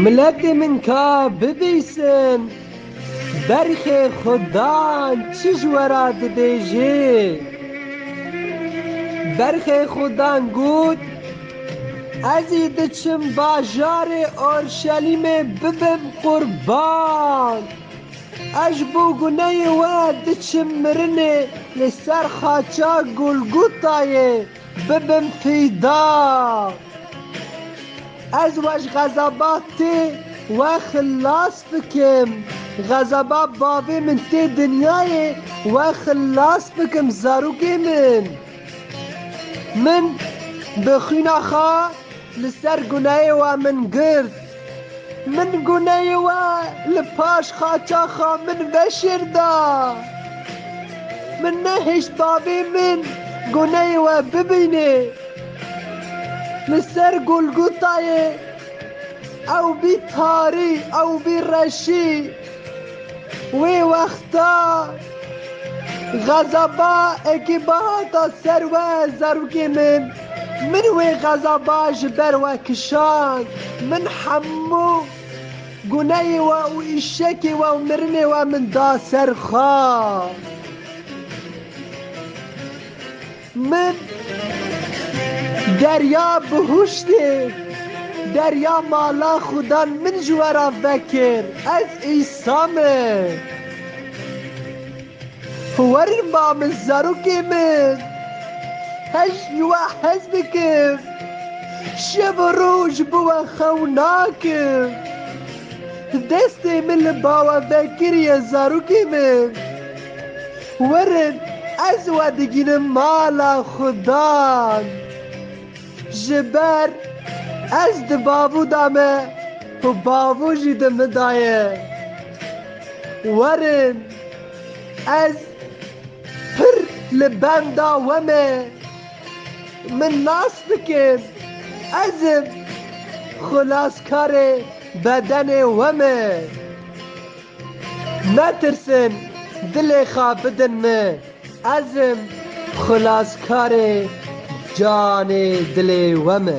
Miletê min ka bibîsin berxê xwe dan çi ji we re dibêjê? Berxê xwe dan got, Ez ê diçim bajarê Orşelîmê bibim qurban. Ez bo guneyê we diçim mirinê li ser xaça Golgotayê bibim fîda. Ez weşxezaba tê we xilas bikim, xezaba bavê min tê dinyayê we xilas bikim zarokê min. Min bi xwîna xwe li ser guneyê we min girt. Min guneyê we li paş qaçaxa min veşêr da. Min nehişt bavê min guneyê we bibînê. Li ser Golgotayê ew bî tarî, ew bî reşî. Wê wexta xezaba ekîba hata ser we zarokê min. Min wê xezaba ji ber we kişand. Min hemû guneyê we û îşekê we û mirinê we min da ser xwe. Min derya bihuştê, derya mala xudan min ji we re vekir, ez Îsa me. Werin ba min zarokê min, hej li we hez bikim, şev û roj bi we xew nakim. Destê min li ba we vekiriye zarokê min. Werin ez we digînim mala xudan. Ji ber ez di bavû de me û bavû jî di min de ye. Werin ez pir li benda we me. Min nas bikin ez im xilaskarê bedenê we me. Netirsin, dilê xwe bidin min, ez im xilaskarê canê dilê we me.